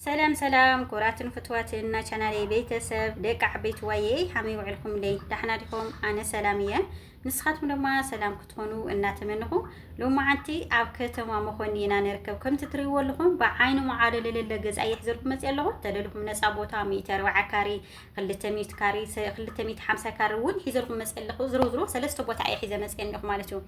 ሰላም ሰላም ኩራትን ፍትዋትን ናይ ቻናለይ ቤተሰብ ደቂ ዓበይቲ ዋየ ሃመይ ውዕልኩም ደይ ዳሕና ዲኹም ኣነ ሰላም እየ ንስኻትኩም ድማ ሰላም ክትኾኑ እናተመንኹ ሎማዓንቲ ኣብ ከተማ መኾኒ ኢና ንርከብ ከምቲ ትሪእዎ ኣለኹም ብዓይኒ መዓዶ ለለለ ገዛ የሕዘልኩም መፅእ ኣለኹ ተደልኹም ነፃ ቦታ ሚእቲ ኣርባዓ ካሬ ክልተ ሚእቲ ካሬ ክልተ ሚእቲ ሓምሳ ካሬ እውን ሒዘልኩም መፅእ ኣለኹ ዝሮ ዝሮ ሰለስተ ቦታ እየ ሒዘ መፅእ ኣለኹ ማለት እዩ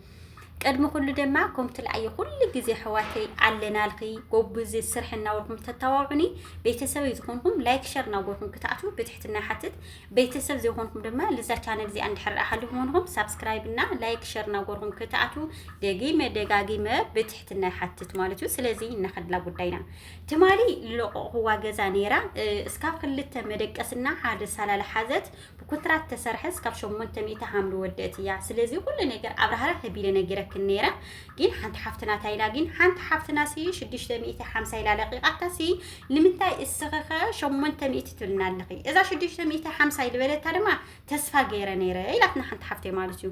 ቅድሚ ኩሉ ድማ ኮም ትልኣዮ ኩሉ ግዜ ኣሕዋተይ ኣለናልኺ ጎብዚ ስርሒ እናበልኩም ተታዋውዑኒ ቤተሰበይ ዝኾንኩም ላይክ ሸር እናጎርኩም ክትኣትዉ ብትሕትና ይሓትት ቤተሰብ ዘይኾንኩም ድማ ልዛ ቻነል እዚኣ እንድሕር ሓሊኹም ኾንኹም ሳብስክራይብ እና ላይክ ሸር እናጎርኩም ክትኣትዉ ደጊመ ደጋጊመ ብትሕትና ይሓትት ማለት እዩ ስለዚ እናኸድላ ጉዳይና ትማሊ ልለቆቕኹዋ ገዛ ነይራ እስካብ ክልተ መደቀስና ሓደ ሳላላ ሓዘት ብኩንትራት ተሰርሐስ ካብ ሸሞንተ ሚእቲ ሃም ልወደእት እያ ስለዚ ኩሉ ነገር ኣብራህራ ተቢለ ነጊረክን ነይረ ግን ሓንቲ ሓፍትና ታይላ ግን ሓንቲ ሓፍትና ሲ ሽዱሽተ ሚእቲ ሓምሳ ኢላ ለቂቃታ ሲ ንምንታይ እስኽኸ ሸሞንተ ሚእቲ ትብልና ኣለኺ እዛ ሽዱሽተ ሚእቲ ሓምሳ ኢልበለታ ድማ ተስፋ ገይረ ነይረ ኢላትና ሓንቲ ሓፍተይ ማለት እዩ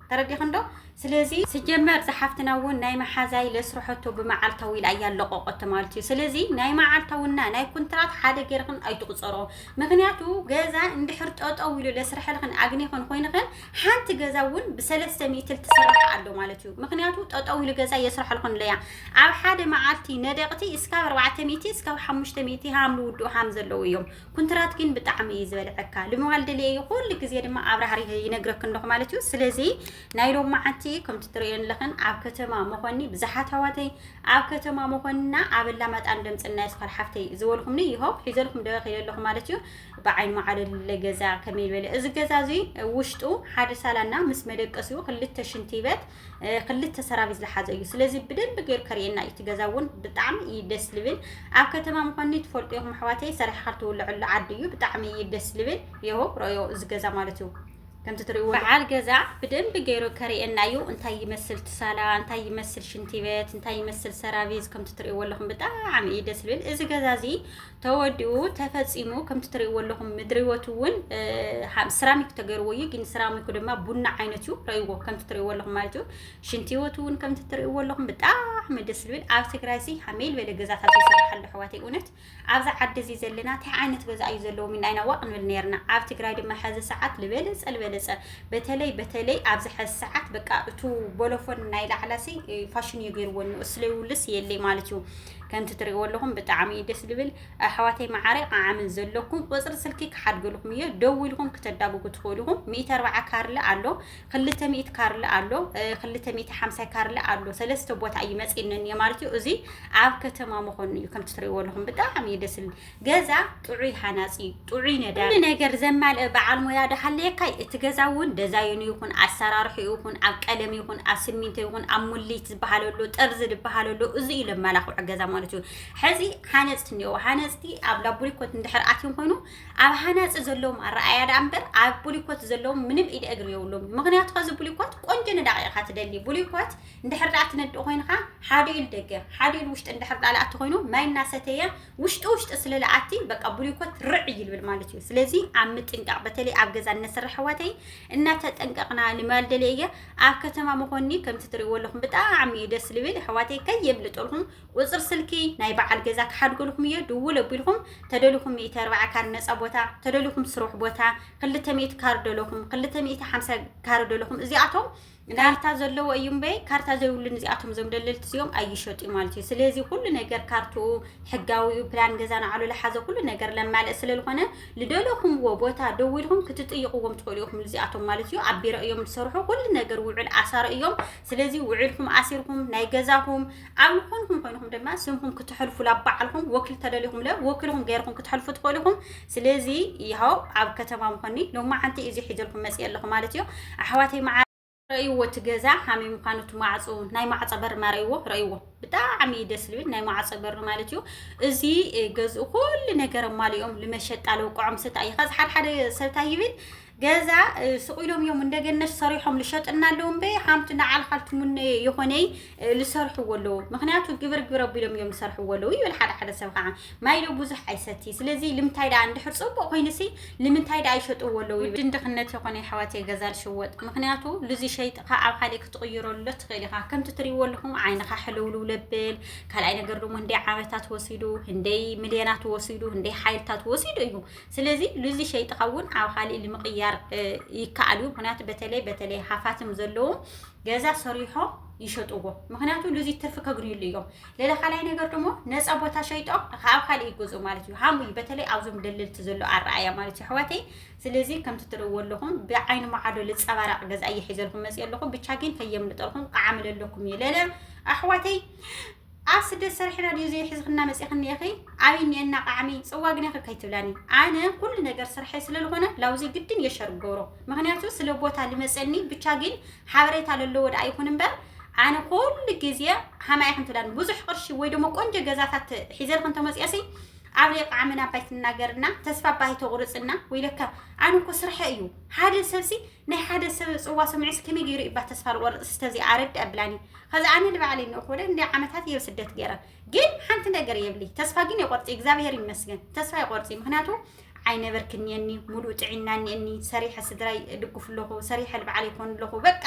ተረዲኽን ዶ ስለዚ ስጀመር እዛ ሓፍትና እውን ናይ መሓዛ ኢለ ስርሐቶ ብመዓልታዊ ኢላ እያ ለቆቆቶ ማለት እዩ ስለዚ ናይ መዓልታውና ናይ ኩንትራት ሓደ ገርኽን ኣይትቁፀሮ ምክንያቱ ገዛ እንድሕር ጠጠው ኢሉ ለስርሐልኽን ኣግኒኽን ኮይንኽን ሓንቲ ገዛ እውን ብሰለስተ ሚእቲ ልትስራሕ ኣሎ ማለት እዩ ምክንያቱ ጠጠው ኢሉ ገዛ የስርሐልኽን ለያ ኣብ ሓደ መዓልቲ ነደቅቲ እስካብ ኣርባዕተ ሚእቲ እስካብ ሓሙሽተ ሚእቲ ሃም ልውድኡ ሃም ዘለዉ እዮም ኩንትራት ግን ብጣዕሚ እዩ ዝበልዐካ ልምባል ደልየ እዩ ኩሉ ግዜ ድማ ኣብራህሪህ ይነግረክን ኣለኹ ማለት እዩ ስለዚ ናይ ሎም መዓንቲ ከምቲ ትርእየን ኣለኽን ኣብ ከተማ መኾኒ ብዙሓት ኣዋተይ ኣብ ከተማ መኾንና ኣብ ኣላማጣን ደምፅና የስኳር ሓፍተይ ዝበልኹምኒ ይሆ ሒዘልኩም ደ ከይደ ኣለኹ ማለት እዩ ብዓይን መዓለለ ገዛ ከመይ ዝበለ እዚ ገዛ እዙይ ውሽጡ ሓደ ሳላና ምስ መደቀሲኡ ክልተ ሽንቲ በት ክልተ ሰራቢት ዝሓዘ እዩ ስለዚ ብደንቢ ገይሩ ከርእየና እዩ እቲ ገዛ እውን ብጣዕሚ እዩ ደስ ልብል ኣብ ከተማ ምኳኑ ትፈልጡ ኢኹም ኣሕዋተይ ሰሪሕካ ትውልዐሉ ዓዲ እዩ ብጣዕሚ እዩ ደስ ልብል የሆ ረዮ እዚ ገዛ ማለት እዩ ከምቲ ትሪእዎ በዓል ገዛ ብደንቢ ገይሩ ከርእየና እዩ እንታይ ይመስል ትሳላ እንታይ ይመስል ሽንቲ ቤት እንታይ ይመስል ሰራቪዝ ከምቲ ትሪእዎ ኣለኹም ብጣዕሚ እዩ ደስ ልብል እዚ ገዛ እዚ ተወዲኡ ተፈጺሙ ከምቲ ትርእይዎ ኣለኹም ምድሪወት እውን ስራሚክ ተገይርዎ እዩ ግን ስራሚኩ ድማ ቡና ዓይነት እዩ ረእይዎ ከምቲ ትርእይዎ ኣለኹም ማለት እዩ ሽንቲወት እውን ከምቲ ትርእይዎ ኣለኹም ብጣዕሚ ደስ ዝብል ኣብ ትግራይ ሲ ሓመይ ዝበለ ገዛታት ይስራሕ ኣሎ ኣሕዋተይ እውነት ኣብዚ ዓዲ እዚ ዘለና እንታይ ዓይነት ገዛ እዩ ዘለዎ ሚና ኢና ዋቅ ንብል ነርና ኣብ ትግራይ ድማ ሕዚ ሰዓት ልበለፀ ልበለፀ በተለይ በተለይ ኣብዚ ሕዚ ሰዓት በቃ እቱ ቦሎፎን ናይ ላዕላ ሲ ፋሽን እዩ ገይርዎ እሱ ለይውልስ የለይ ማለት እዩ ከምቲ ትሪእዎ ኣለኹም ብጣዕሚ እዩ ደስ ዝብል ኣሕዋተይ መዓረይ ቃዓምን ዘለኩም ቁፅሪ ስልኪ ክሓድገልኩም እዮ ደዊልኩም ክተዳጉጉ ትኽእሉ ኢኹም ሚእቲ ኣርባዓ ካርለ ኣሎ ክልተ ሚእቲ ካርለ ኣሎ ክልተ ሚእቲ ሓምሳይ ካርለ ኣሎ ሰለስተ ቦታ እዩ መፂእነን እየ ማለት እዩ እዚ ኣብ ከተማ መኾኑ እዩ ከምቲ ትሪእዎ ኣለኹም ብጣዕሚ እዩ ደስ ዝብል ገዛ ጥዑይ ሃናጺ እዩ ጥዑይ ነዳሪ ኩሉ ነገር ዘማልእ በዓል ሞያ ደሃለየካይ እቲ ገዛ እውን ደዛይኑ ይኹን ኣሰራርሕኡ ይኹን ኣብ ቀለም ይኹን ኣብ ስሚንቶ ይኹን ኣብ ሙሊት ዝበሃል ኣሎ ጠርዚ ዝበሃል ኣሎ እዚ እዩ ለማላኽዑ ገዛ ማለት እዩ ሕዚ ሃነጽቲ እኒኦ ሃነጽቲ ኣብ ላቡሊኮት እንድሕር ኣትዮም ኮይኑ ኣብ ሃናጺ ዘለዎም ኣረኣያ ደኣ እምበር ኣብ ቡሊኮት ዘለዎም ምንም ኢደ እግሪ የብሎም ምክንያቱ ከዚ ቡሊኮት ቆንጆ ነዳቂ ኢኻ ትደሊ ቡሊኮት እንድሕር ደኣ ትነድእ ኮይንካ ሓደ ኢሉ ደገ ሓደ ኢሉ ውሽጢ እንድሕር ደኣ ለኣቲ ኮይኑ ማይ እናሰተየ ውሽጢ ውሽጢ ስለ ልኣቲ በቃ ብሉኮት ርዕ ይልብል ማለት እዩ ስለዚ ኣብ ምጥንቃቅ በተለይ ኣብ ገዛ እነስርሕ ኣሕዋተይ እናተጠንቀቅና ንማል ደልየ እየ ኣብ ከተማ መኾኒ ከምቲ ትሪእዎ ኣለኹም ብጣዕሚ እዩ ደስ ልብል ኣሕዋተይ ከየምልጠልኩም ቁፅር ስልኪ ናይ በዓል ገዛ ክሓድገልኹም እየ ድውል ኣቢልኩም ተደልኹም ሚእቲ ኣርባዓ ካር ነፃ ቦታ ተደልኹም ስሩሕ ቦታ ክልተ ሚእቲ ካር ደለኹም ክልተ ሚእቲ ሓምሳ ካር ደለኹም እዚኣቶም ናርታ ዘለዎ እዩ እምበይ ካርታ ዘይብሉ ንዚኣቶም ዞም ደለልቲ እዚኦም ኣይሸጡ እዩ ማለት እዩ ስለዚ ኩሉ ነገር ካርትኡ ሕጋዊ እዩ ፕላን ገዛ ንዓሉ ዝሓዘ ኩሉ ነገር ለማልእ ስለ ዝኾነ ልደለኹምዎ ቦታ ደው ኢልኩም ክትጥይቕዎም ትኽእሉ ኢኹም ንዚኣቶም ማለት እዩ ኣብ ቢሮ እዮም ዝሰርሑ ኩሉ ነገር ውዕል ኣሳሪ እዮም ስለዚ ውዕልኩም ኣሲርኩም ናይ ገዛኹም ኣብ ዝኾንኩም ኮይንኩም ድማ ስምኩም ክትሕልፉ ላባዓልኩም ወኪል ተደሊኹም ለ ወኪልኩም ገይርኩም ክትሕልፉ ትኽእሉ ኢኹም ስለዚ ያው ኣብ ከተማ ምኾኒ ሎማዓንቲ እዩ እዚ ሒዘልኩም መፅየ ኣለኹ ማለት እዩ ኣሕዋተይ መዓር ረእይዎ እቲ ገዛ ከመይ ምዃኑ እቲ ማዕፁ ናይ ማዕፆ በሪ ማርእይዎ ረእይዎ ብጣዕሚ እዩ ደስ ልብል ናይ ማዕፆ በሪ ማለት እዩ እዚ ገዝኡ ኩሉ ነገር ኣማሊኦም ልመሸጣ ለውቅዖም ስታ እዩ ከዚ ሓደ ሓደ ሰብ እንታይ ይብል ገዛ ሱቅ ኢሎም እዮም እንደገነሽ ሰሪሖም ልሸጥና ኣለዎም በይ ሓምቲ ንዓልኻል ትሙነየ የኾነይ ልሰርሕዎ ኣለዎ ምክንያቱ ግብር ግብር ኣቢሎም እዮም ዝሰርሕዎ ኣለዉ ይብል ሓደ ሓደ ሰብ ከዓ ማይ ዶ ብዙሕ ኣይሰቲ ስለዚ ልምንታይ ደኣ እንድሕር ፅቡቅ ኮይኑሲ ልምንታይ ደኣ ይሸጥዎ ኣለዉ ውድን ድኽነት የኾነ ሓዋት ገዛ ልሽወጥ ምክንያቱ ልዚ ሸይጥካ ኣብ ካልእ ክትቕይረሉ ትኽእል ኢኻ ከምቲ ትሪእዎ ኣለኹም ዓይንኻ ሕልውልው ለብል ካልኣይ ነገር ደሞ እንደ ዓመታት ወሲዱ እንደይ ሚልዮናት ወሲዱ እንደይ ሓይልታት ወሲዱ እዩ ስለዚ ሉዚ ሸይጥኻ እውን ኣብ ካሊእ ንምቕያር ይከኣል እዩ ምክንያቱ በተለይ በተለይ ሃፋትም ዘለዎም ገዛ ሰሪሖም ይሸጥዎ ምክንያቱ ሉዚ ትርፊ ከግንዩሉ እዮም ሌላ ካልኣይ ነገር ደሞ ነፃ ቦታ ሸይጦም ካብ ካልእ ይገዝኡ ማለት እዩ ሃሙ እዩ በተለይ ኣብዞም ደለልቲ ዘሎ ኣረኣያ ማለት እዩ ኣሕዋተይ ስለዚ ከምቲ ትርእዎ ኣለኹም ብዓይኒ መዓዶ ልፀባራቕ ገዛ እየ ሒዘልኩም መፅእ ኣለኹ ብቻ ግን ከየምልጠልኩም ቃዓምለለኩም እየ ለለ ኣሕዋተይ ኣብ ስደት ሰሪሕና ድዩ ዘይሕዝኽና መጺኽኒ ኢኺ ዓብይ እኒኤና ቃዕሚ ጽዋ ግን ኢኺ ከይትብላኒ ኣነ ኩሉ ነገር ስርሐይ ስለልኾነ ላውዚ ግድን እየ ሸር ክገብሮ ምኽንያቱ ስለ ቦታ ልመጸኒ ብቻ ግን ሓበሬታ ለለዎ ደኣ ይኹን እምበር ኣነ ኩሉ ግዜ ሃማ ኢኽን ትብላኒ ብዙሕ ቅርሺ ወይ ደሞ ቆንጆ ገዛታት ሒዘልክ እንተመጽኦሲ ዓብለይ ቃዕሚ ናባይ ትናገርና ተስፋ ባይ ተቑርጽና ወይለካ ኣነ እኮ ስርሐ እዩ ሓደ ሰብሲ ናይ ሓደ ሰብ ጽዋ ሰሚዑስ ከመይ ገይሩ እዩ እባ ተስፋ ዝቆርጽ እስከ እዚኣ ኣረድ ኣብላኒ ከዚ ኣነ ንባዕለይ እንእክበለ እንደ ዓመታት እየ ስደት ገይረ ግን ሓንቲ ነገር የብሊ ተስፋ ግን የቆርጽ እግዚኣብሔር ይመስገን ተስፋ ይቆርጽ ምክንያቱ ዓይነበርክ እኒየኒ ሙሉእ ጥዒና እኒአኒ ሰሪሐ ስድራይ እድግፍ ኣለኹ ሰሪሐ ልባዕለ ይኮን ኣለኹ በቃ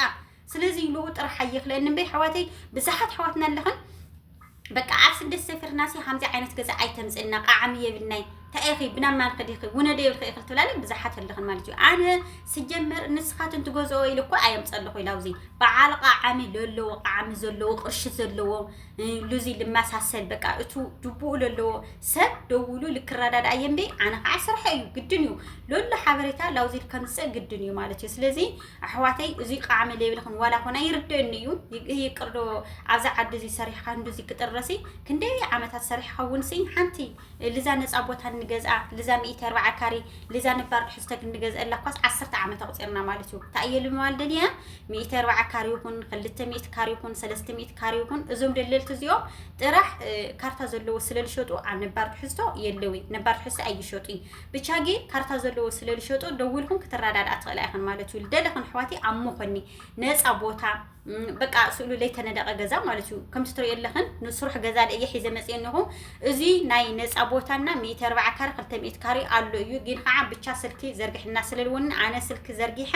ስለዚ ልኡ ጥራሕ ኣይኽለኒ እምበይ ኣሕዋተይ ብዙሓት ኣሕዋትና ኣለኽን በቃ ኣብ ስደት ሰፊርናሲ ከምዚ ዓይነት ገዛ ኣይተምፅልና ቃዕሚ የብልናይ እንታይ ኢኺ ብናብ ማን ኽዲኺ ውነደ ይብልኺ ኢኺ ትብላኒ ብዙሓት ኣለኽን ማለት እዩ ኣነ ስጀምር ንስኻትን ትገዝኦ ኢሉ እኮ ኣየምፀልኹ ኢላ ውዚ በዓል ቃዕሚ ለለዎ ቃዕሚ ዘለዎ ቅርሺ ዘለዎ ሉዚ ልመሳሰል በቃ እቱ ድቡኡ ለለዎ ሰብ ደውሉ ልክረዳዳ እየ እምበይ ኣነ ከዓ ስርሐ እዩ ግድን እዩ ለሎ ሓበሬታ ላውዚ ከምፅእ ግድን እዩ ማለት እዩ ስለዚ ኣሕዋተይ እዙይ ቃዕሚ ዘይብልክን ዋላ ኮነ ይርደኒ እዩ ይቅርዶ ኣብዚ ዓዲ እዚ ሰሪሕካ እንዱዚ ክጥረሲ ክንደይ ዓመታት ሰሪሕካ እውን ሲ ሓንቲ ልዛ ነፃ ቦታ እንገዝኣ ልዛ ሚእቲ ኣርባዓ ካሬ ልዛ ነባር ትሕዝቶ ክንገዝአላ እኳስ ዓሰርተ ዓመት ኣቁፂርና ማለት እዩ እንታይ እየ ልምባል ደልየ ሚእቲ ኣርባዓ ካሬ ይኹን ክልተ ሚእቲ ካሬ ይኹን ሰለስተ ሚእቲ ካሬ ይኹን እዞም ደለልቲ እዚኦም ጥራሕ ካርታ ዘለዎ ስለልሸጡ ኣብ ነባር ትሕዝቶ የለዊ ነባር ትሕዝቶ ኣይሸጡይ ብቻጌ ካርታ ዘለዎ ስለ ልሸጦ ደዊልክን ክትረዳድኣ ትኽእላ ኢኽን ማለት እዩ ልደለኽን ኣሕዋተይ ኣብ ሞኾኒ ነፃ ቦታ በቃ ስእሉ ለይተነደቀ ገዛ ማለት እዩ ከምቲ ትሪኦ ኣለኽን ንስሩሕ ገዛ ደየ ሒዘ መፅእ እኒኹ እዚ ናይ ነፃ ቦታና ሚእቲ ኣርባዓ ካሬ ክልተ ሚእቲ ካሬ ኣሎ እዩ ግን ከዓ ብቻ ስልኪ ዘርግሕና ስለልወኒ ኣነ ስልኪ ዘርጊሐ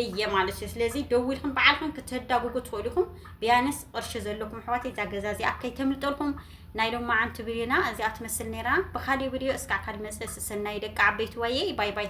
እየ ማለት እዩ ስለዚ ደዊልኩም በዓልኩም ክትህዳጉጉ ትኽእሉ ኢኹም ቢያንስ ቅርሺ ዘለኩም ኣሕዋተይ እዛ ገዛ እዚኣ ከይተምልጠልኩም ናይ ሎማዓንቲ ብድዮና እዚኣ ትመስል ነይራ ብካሊእ ብድዮ እስካዕ ካሊእ መፅእ ሰሰናዩ ደቂ ዓበይቲ ዋይይይ ባይ ባይ።